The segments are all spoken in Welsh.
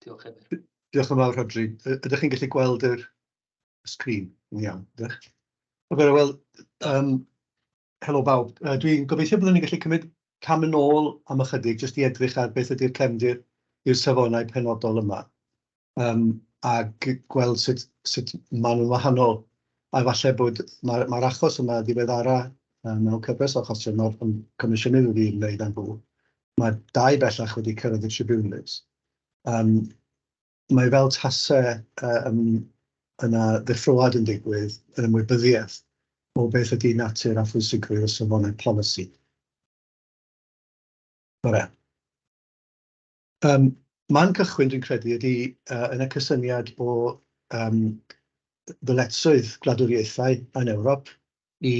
Diolch Emyr. Diolch yn fawr Rhodri. Ydych chi'n gallu gweld yr sgrin yn iawn? Diolch. Ok, wel, um, helo bawb. Uh, Dwi'n gobeithio byddwn ni'n gallu cymryd cam yn ôl am ychydig, jyst i edrych ar beth ydy'r cefndir i'r safonau penodol yma. Um, ac gweld sut, sut maen nhw'n wahanol. A falle bod mae'r mae achos yma ddiweddara mewn cyfres o achosion o'r Comisiynydd wedi'i wneud am fwy. Mae dau bellach wedi cyrraedd y tribiwnlys. Yym, mae fel tase yym yna ddeffroad yn digwydd yn ymwybyddiaeth o beth ydy natur a phwysigrwydd y safonau polisi. Bore. Yym, man cychwyn dwi'n credu ydy yy yn y cysyniad o yym ddyletswydd gwladwriaethau yn Ewrop, i,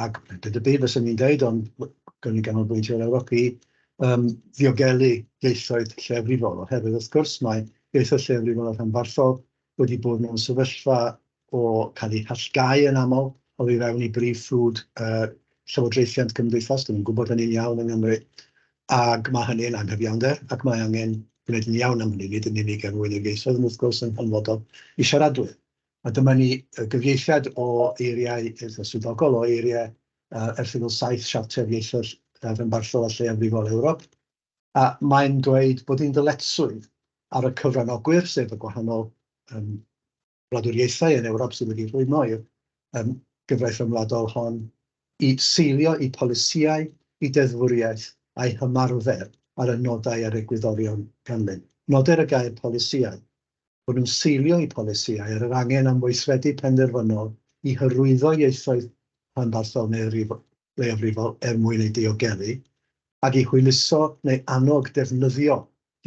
ac nid y byd fyswn i'n dweud, ond gawn ni ganolbwyntio ar Ewrop, i um, ddiogelu ieithoedd lleafrifol, oherwydd wrth gwrs mae ieithoedd lleafrifol a rhanbarthol wedi bod mewn sefyllfa o cael eu hallgau yn aml o i fewn i brif ffrwd uh, llywodraethiant cymdeithas, dyn nhw'n gwybod hynny'n iawn yng Nghymru, ac mae hynny'n anghyfiawnder, ac mae angen gwneud yn iawn am hynny, nid yn unig er mwyn y geisoedd, ond wrth gwrs yn hanfodol i siaradwyr. A dyma ni, y gyfieithiad o eiriau, eitha swyddogol, o eiriau Erthygl 7 Siarter Ieithoedd Rhanbarthol a Lleiafrifol Ewrop, a mae'n dweud bod un dyletswydd ar y cyfranogwyr, sef y gwahanol wladwriaethau yn Ewrop sydd wedi rhwymo i'r gyfraith ryngwladol hon, i seilio eu polisïau, eu deddfwriaeth a'u hymarfer ar y nodau a'r egwyddorion ganlyn. Noder y gair polisïau bod nhw'n seilio eu polisïau ar yr angen am weithredu penderfynol i hyrwyddo ieithoedd rhanbarthol neu leiafrifol er mwyn eu diogelu, ac i hwyluso neu annog defnyddio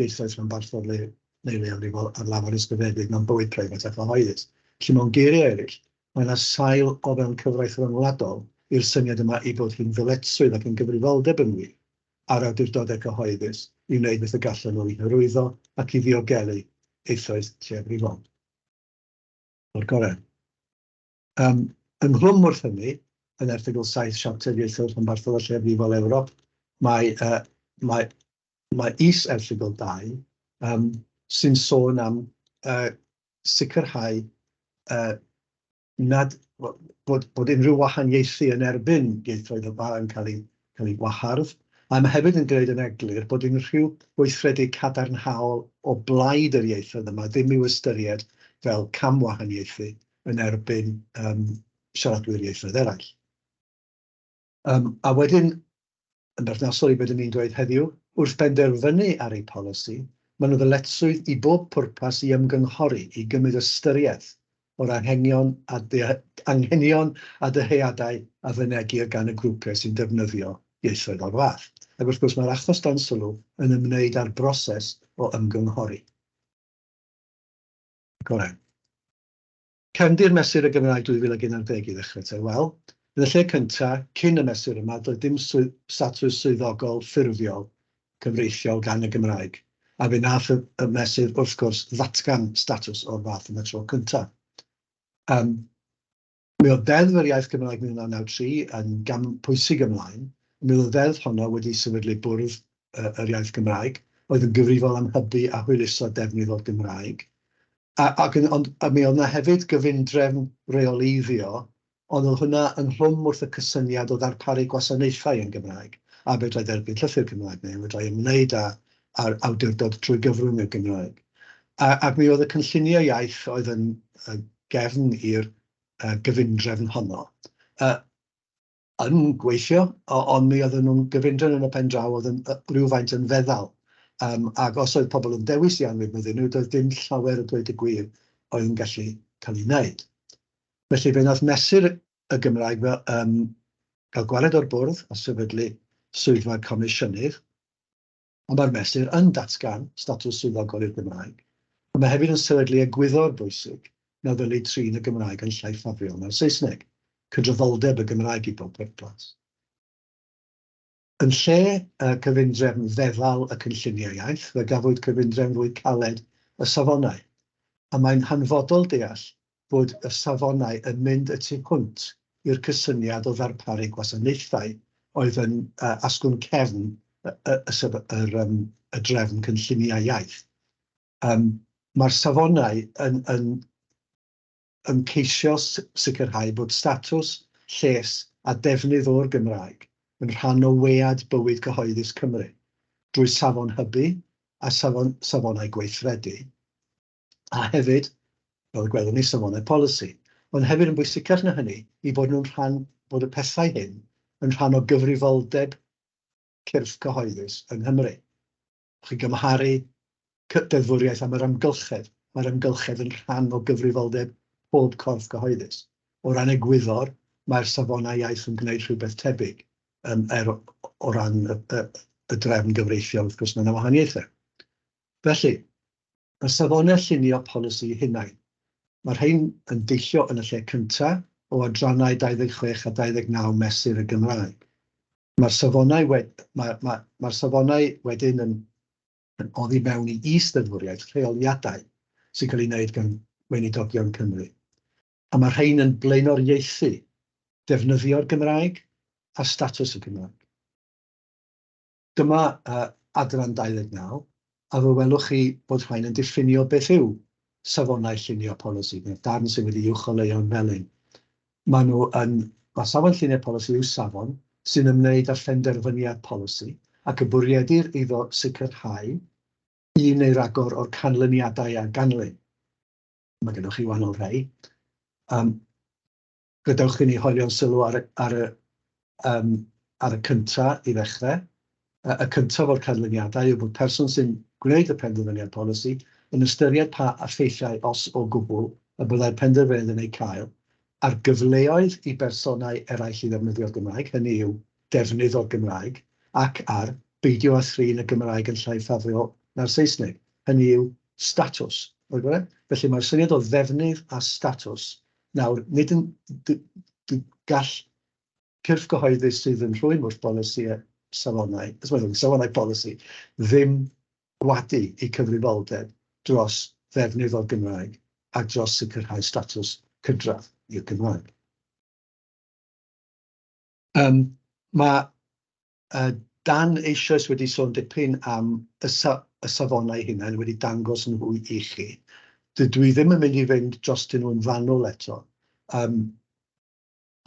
ieithoedd rhanbarthol neu leiafrifol ar lafar ysgrifenedig mewn bywyd preifat a chyhoeddus. Felly, mewn geiriau eraill, mae yna sail o fewn cyfraith ryngwladol i'r syniad yma ei bod hi'n ddyletswydd ac yn gyfrifoldeb yng Ngwir. a'r awdurdodau cyhoeddus i wneud beth y gallan nhw i hyrwyddo ac i ddiogelu eisoes lleiafrifol o'r gorau. Ym ynghlwm wrth hynny, yn erthygl saith Siarter Ieithoedd Rhanbarthol a Lleiafrifol Ewrop, mae yy mae mae is-erthygl dau yym sy'n sôn am yy sicrhau yy nad, wel, bod, bod unrhyw wahaniaethu yn erbyn ieithoedd y Ba yn cael ei, cael ei wahardd, a mae hefyd yn gwneud yn eglur bod unrhyw weithredu cadarnhaol o blaid yr ieithoedd yma ddim i'w ystyried fel camwahaniaethu yn erbyn um, siaradwyr ieithoedd eraill. Yym, a wedyn, yn berthnasol i be dyn ni'n dweud heddiw, wrth benderfynu ar eu polisi, maen nhw ddyletswydd i bob pwrpas i ymgynghori, i gymryd ystyriaeth o'r anghenion a anghenion a dyheadau a fynegir gan y grwpiau sy'n defnyddio ieithoedd o'r fath. Ac wrth gwrs, mae'r achos dan sylw yn ymwneud â'r broses o ymgynghori. Goren. Cefndir Mesur y Gymraeg 2011 i ddechrau te. Wel, yn y lle cynta, cyn y mesur yma, doedd dim statws swyddogol ffurfiol cyfreithiol gan y Gymraeg, a fe wnaeth y mesur, wrth gwrs, ddatgan statws o'r fath am y tro cynta. Ym mi oedd Ddeddf yr Iaith Gymraeg 1993 yn gam pwysig ymlaen, ym mi oedd y ddeddf honno wedi sefydlu bwrdd yr iaith Gymraeg, oedd yn gyfrifol am hybu a hwyluso defnydd o'r Gymraeg. A, ac yn, ond a mi oedd yna hefyd gyfundrefn reoleiddio, ond oedd hwnna yn rhwm wrth y cysyniad o ddarparu gwasanaethau yn Gymraeg, a fedrai dderbyn llythyr Cymraeg neu fedrai ymwneud â, â'r awdurdod trwy gyfrwng y Gymraeg. A, ac mi oedd y cynlluniau iaith oedd yn uh, gefn i'r uh, gyfundrefn honno. Uh, yn gweithio, ond mi oedden nhw'n gyfundrefn yn y pen draw, oedd yn rywfaint yn feddal. Yym ac os oedd pobl yn dewis i anwybyddu nhw, doedd dim llawer o dweud y gwir oedd yn gallu cael ei wneud. Felly fe wnaeth Mesur y Gymraeg fel yym gael gwared o'r bwrdd a sefydlu Swyddfa'r Comisiynydd. ond mae'r Mesur yn datgan statws swyddogol i'r Gymraeg, ond mae hefyd yn sefydlu egwyddor bwysig na ddylid trin y Gymraeg yn llai ffafriol na'r Saesneg, cydraddoldeb y Gymraeg i bob pwrpas. Yn lle y cyfundrefn feddal y cynlluniau iaith, fe gafwyd cyfundrefn fwy caled y safonau, a mae'n hanfodol deall bod y safonau yn mynd y tu hwnt i'r cysyniad o ddarparu gwasanaethau oedd yn asgwrn cefn y drefn cynlluniau iaith. Mae'r safonau yn ceisio sicrhau bod statws, lles a defnydd o'r Gymraeg yn rhan o wead bywyd cyhoeddus Cymru, drwy safon hybu a safonau gweithredu, a hefyd, fel y gwelwn ni, safonau polisi, ond hefyd yn bwysicach na hynny, i fod nhw'n rhan, bod y pethau hyn yn rhan o gyfrifoldeb cyrff cyhoeddus yng Nghymru. Chi'n gymharu deddfwriaeth am yr amgylchedd, mae'r amgylchedd yn rhan o gyfrifoldeb pob corff cyhoeddus. O ran egwyddor, mae'r safonau iaith yn gwneud rhywbeth tebyg, um, er o ran y, y, y drefn gyfreithiol, wrth gwrs, mae yna wahaniaethau. Felly, Y safonau llunio polisi hunain. Mae'r rhain yn deillio yn y lle cyntaf o adrannau 26 a 29 Mesur y Gymraeg. Mae'r safonau wed-, mae, mae, mae'r safonau wedyn yn yn oddi mewn i is-ddeddfwriaeth rheoliadau sy'n cael ei wneud gan Weinidogion Cymru. A mae'r rhain yn blaenoriaethu defnyddio'r Gymraeg a statws y Gymraeg. Dyma adran 29, a fe welwch chi bod rhain yn diffinio beth yw safonau llunio polisi, neu'r darn sydd wedi'i uwcholeuo'n felyn. Maen nhw yn... Mae safon llunio polisi yw safon sy'n ymwneud â phenderfyniad polisi ac y bwriedir iddo sicrhau un neu ragor o'r canlyniadau a ganlyn. Mae gennych chi wahanol rai. Gadewch i ni hoelio'n sylw ar y, ar y, yym, ar y cynta i ddechrau. Y cyntaf o'r canlyniadau yw bod person sy'n gwneud y penderfyniad polisi yn ystyried pa effeithiau, os o gwbl, y byddai'r penderfyniad yn eu cael ar gyfleoedd i bersonau eraill i ddefnyddio'r Gymraeg, hynny yw, defnydd o'r Gymraeg, ac ar beidio â thrin y Gymraeg yn llai ffafriol na'r Saesneg, hynny yw, statws. Felly, mae'r syniad o ddefnydd a statws Nawr, nid yn... d- d- gall cyrff gyhoeddus sydd yn rhwym wrth bolisi a safonau, sori, safonau polisi, ddim gwadu eu cyfrifoldeb dros ddefnydd o'r Gymraeg a dros sicrhau statws cydradd i'r Gymraeg. Yym, mae Dan eisoes wedi sôn dipyn am y safonau hunain, wedi dangos nhw i chi. Dydw i ddim yn mynd i fynd drostyn nhw'n fanwl eto,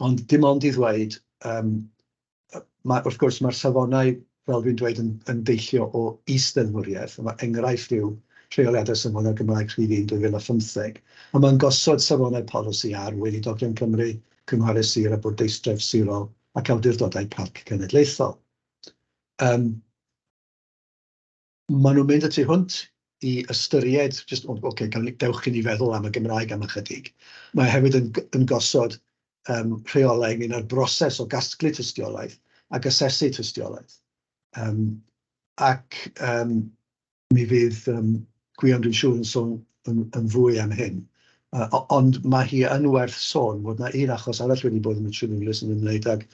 ond dim ond i ddweud, wrth gwrs, mae'r safonau, fel dwi'n dweud, yn deillio o is-ddeddfwriaeth, enghraifft yw Rheoliadau Safonau Cymraeg Rhif un 2015, ond mae'n gosod safonau polisi ar Weinidogion Cymru, Cynghorau Sir a Bwrdeistref Sirol ac awdurdodau parc cenedlaethol. Yym, maen nhw'n mynd y tu hwnt i ystyried, jyst, o ocê, gawn ni, dewch i ni feddwl am y Gymraeg am ychydig. Mae hefyd yn yn gosod yym rheolau ynglyn â'r broses o gasglu tystiolaeth ac asesu tystiolaeth. Yym ac yym... Mi fydd yym Gwion dwi'n siŵr yn sôn yn yn fwy am hyn. Yy o- ond ma' hi yn werth sôn fod 'na un achos arall wedi bod yn y Tribiwnlys yn ymwneud ag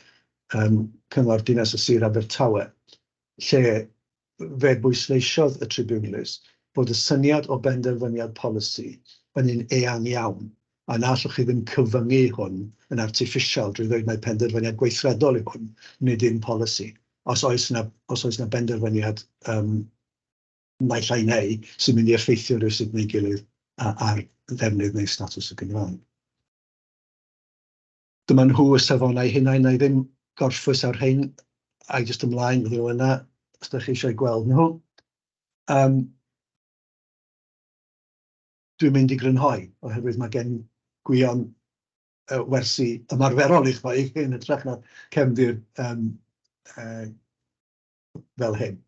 yym Cyngor Dinas a Sir Abertawe, lle fe bwysleisiodd y Tribiwnlys bod y syniad o benderfyniad polisi yn un eang iawn A na allwch chi ddim cyfyngu hwn yn artiffisial drwy ddweud mai penderfyniad gweithredol yw hwn, nid yw'n polisi. Os oes 'na, os oes 'na benderfyniad yym naill ai neu sy'n mynd i effeithio rywsut neu'i gilydd ar ddefnydd neu statws y Gymraeg. Dyma nhw y safonau hunain, wna i ddim gorffwys ar rhein, ai jyst ymlaen iddyn nhw yna os dach chi eisiau gweld nhw. Yym. dwi'n mynd i grynhoi, oherwydd mae gen Gwion wersi ymarferol i'ch rhoi yn hytrach na cefndir fel hyn.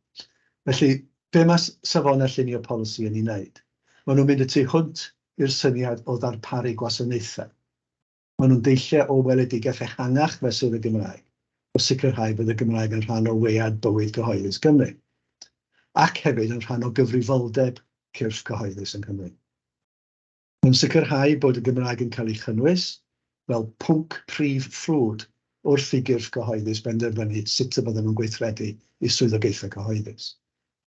Felly, be mae Safonau Llunio Polisi yn ei wneud? Maen nhw'n mynd y tu hwnt i'r syniad o ddarparu gwasanaethau. Maen nhw'n deilliau o weledigaeth ehangach fesul y Gymraeg, o sicrhau bod y Gymraeg yn rhan o wead bywyd gyhoeddus Cymru, ac hefyd yn rhan o gyfrifoldeb cyrff cyhoeddus yng Nghymru. Mae'n sicrhau bod y Gymraeg yn cael ei chynnwys fel pwnc prif ffrwd wrth i gyrff cyhoeddus benderfynu sut y byddan nhw'n gweithredu eu swyddogaethau cyhoeddus.